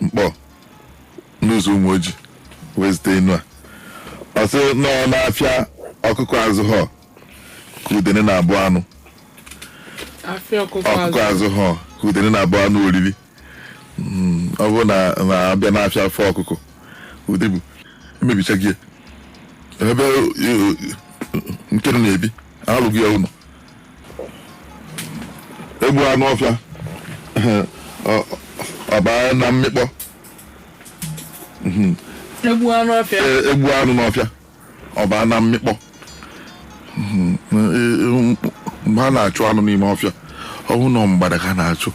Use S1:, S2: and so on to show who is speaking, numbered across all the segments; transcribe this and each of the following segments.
S1: Nkpor n'ụzọ Umuoji wee zute enu a ọ sị na ọ n'afịa ọkụkọ azụhọ ka udene na-abụ anụ afịa ọkụkọ ọkụkọ azụ azụhọ ka udene na-abụ anụ oriri Mm, ọ bụrụ na na a bịa n'afịa afụ ọkụkọ ụdị bụ emebicha gị ya. ebe eh, nkere na-ebi alụghị ya ụnọ egbu anụ ọfịa ọ- ọ baa na mmịkpọ
S2: egbu anụ ọfịa E- egbu anụ n'ọfịa
S1: ọ baa na mmịkpọ Mhm. E- e- mgbe a na-achụ anụ n'ime ọfịa ọ bụ na mgbada ka a na-achụ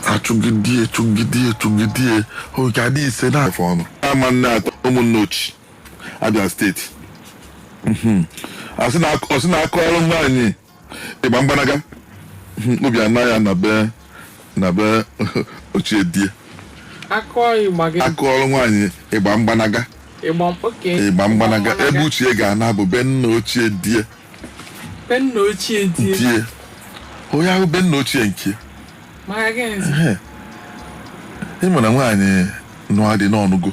S1: achụgidie chụgidie chụgidie oge adị ise na-afọ ọnụ ama nne atọ Umunneochi Abia steeti Mhm. A sị na- ọ sị na a kọọrọ nwaanyị ịgba mgbanaga Mhm. obi ana ya na be na be ochie die aka ọyị gba gị a kọọrọ nwaanyị ịgba mgbanaga ịgba oke ịgba mgbanaga ebe ochie ga-ana bụ be nna ochie die Be nna ochie die. ntie onye ahụ be nna ochie nke Maka gịnịzi? Ehe. ị ma na nwaanyị nụa di na ọ nụgo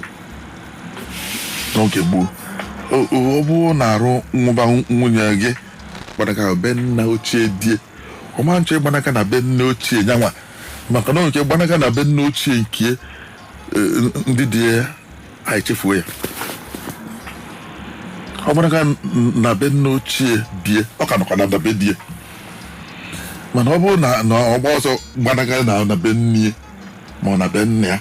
S1: n'oge gboo O- o- ọ bụrụ na arụ nwụba nwunye gị gbanaga be nna ochie die ọ ma achọ ịgbanaga na be nna ochie nyanwa maka na nke gbanaga na be nna ochie nke eh, ndị di ya anyị chefuo ya ọ gbanaga na be nna ochie die ọ ka nọkwa na na be die mana ọ bụrụ na na ọ gbaa ọsọ gbanaga na na be nne ma ọ na be nna ya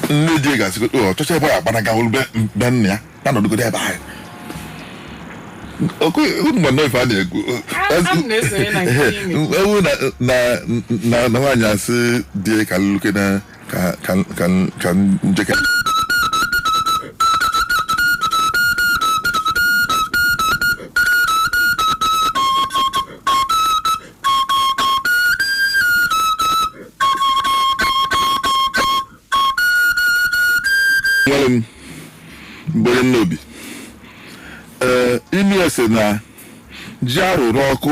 S1: nne di ga-asị ọ chọcha ebe ya gbanaga wụrụ be be nna ya ya nọdụgodo ebe ahụ Oke, unu ma nnọọ ife a na-ekwu A- m na-esonye na nke ime. ewu na na na na nwaanyị asị die ka lụke na ka ka ka ka njeke nwere m mgbere m n'obi ee imi ese na ji a rụrụ ọkụ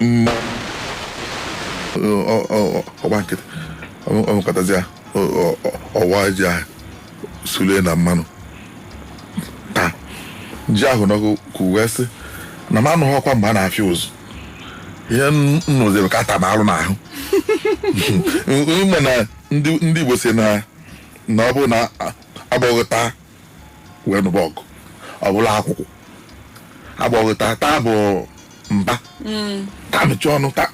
S1: nne ọ- ọ- ọ- ọgba nkịtị ọ- ọ nọkatazịa ọ- ọ- ọ- ọ waa ji ahụ sule na mmanụ taa ji ahụ n'ọkụ ka o wee sị na m anụhọkwa mgbe a na-afịa ụzụ ihe m nụziri ka a ta m alụ n'ahụ ị ma na ndị ndị Igbo sị na na ọ bụ na agbọghọ ta wee nụba ọgụ ọ bụrụ akwụkwụ agbọghọ taa taa bụ mba taa mechie ọnụ taa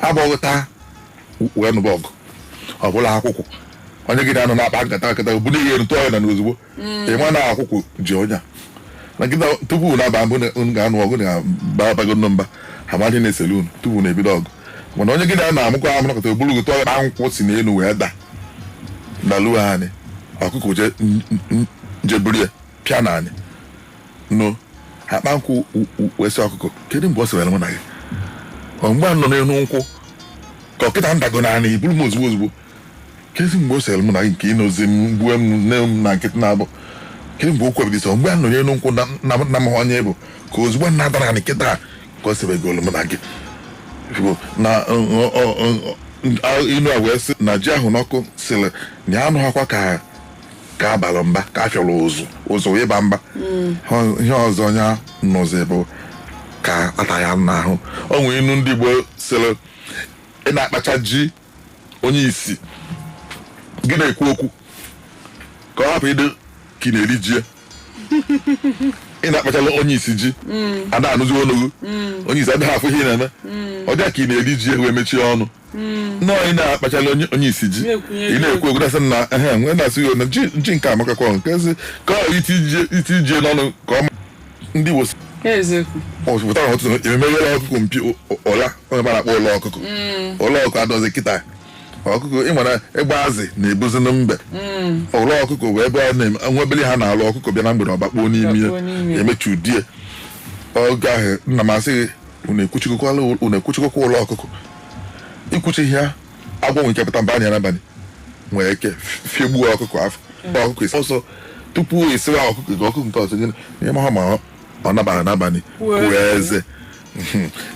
S1: agbọghọ taa wee nụba ọgụ ọ bụrụ akwụkwụ onye gị na ya nọ na-akpa nkata kata bunie enu tụọ ya n'ana ozugbo ị ma na akwụkwụ ji onye a na kịta tupu unu aba mbụ unu ga-anụ ọgụ na ba abago nnụ mba a ma ihe na-esere unu tupu unu ebido ọgụ mana onye gị na ya na-amụkọ amụ nọkata o buru gị tụọ n'ana akpa nkwụ si n'elu wee da daluo anị ọkụkọ je n- n- je buru ya pịa n'anị nụ akpa nkwụ u- u- wee sị ọkụkọ kedu mgbe o sere mụ na gị ọ mgbe a nọ n'elu nkwụ ka ọ kịta m dago n'anị i buru m ozugbo ozugbo kezi mgbe o sere m na gị nke ịnozi m gbue m noe m na nkịtị na-abụ kee mgbe okwu ebido sọ mgbe a nọ n'elu nkwụ na na- na amaghị m onye ị bụ ka ozugbo m dara n'anị kịta a ka o sebegolu m na gị Ị fụgo, na ọ- ọ- ọ- ọ- ọ- inu a wee sị na ji a hụ n'ọkụ sịrị na ya anụghakwa ka ka a balị mba ka a fịọrọ ụzụ ụzụ wee ba mba Ọ- ihe ọzọ ya nụzi bụ ka a ta ya n'ahụ o nwere inu ndị Igbo sịrị ị na-akpacha ji onye isi gị na-ekwu okwu ka ọ hapụ ịdị ka ị na-eri ji ya. ị na-akpachala onye isi ji a da anụzi olu gị onye isi adịghị afụ ihe ị na-eme ọ dịa ka ị na-eri ji ya wee mechie ọnụ nnọọ ị na-akpachala onye onye isi ji Na-ekwunye ị na-ekwu okwu na-asị na ehe nwe na-asị ya na ji ji nke a amakakwa kezi ka ọ iti ji n'ọnụ ka ọ ma ndị Igbo si eziokwu ọ pụtara n'ụtụtụ emeghe ụlọ ọkụkọ mpio o- ọla onye mara akpọ ụlọ ọkụkọ ụlọ ọkụkọ adịrọzi kịta ọkụkọ ịma na egbe azị na-ebuzi na mbe ụlọ ọkụkọ wee ebe a na-eme nwa obele a na-alụ ọkụkọ bịa na mgbede ọ bakpuo n'ime ya Bakpuo n'ime ya. emechie ụdị oge ahụ nna m asị gị unu ekwuchigokwala unu ekwuchigokwa ụlọ ọkụkọ i kwuchighị ya agwọ nwere ike pụta baa na ya n'abalị nwere ike fiegbuo ọkụkọ afọ kpọọ ọkụkọ isi ọsọ tupu esiwa ọkụkọ nke ọkụkọ nke ọzọ gịnị ị maha ma ọ- ọ nabara n'abalị puo eze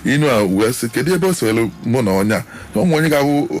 S1: inu a wee sị kedu ebe o sewere mụ na onye a na ụmụ onye ga-abụ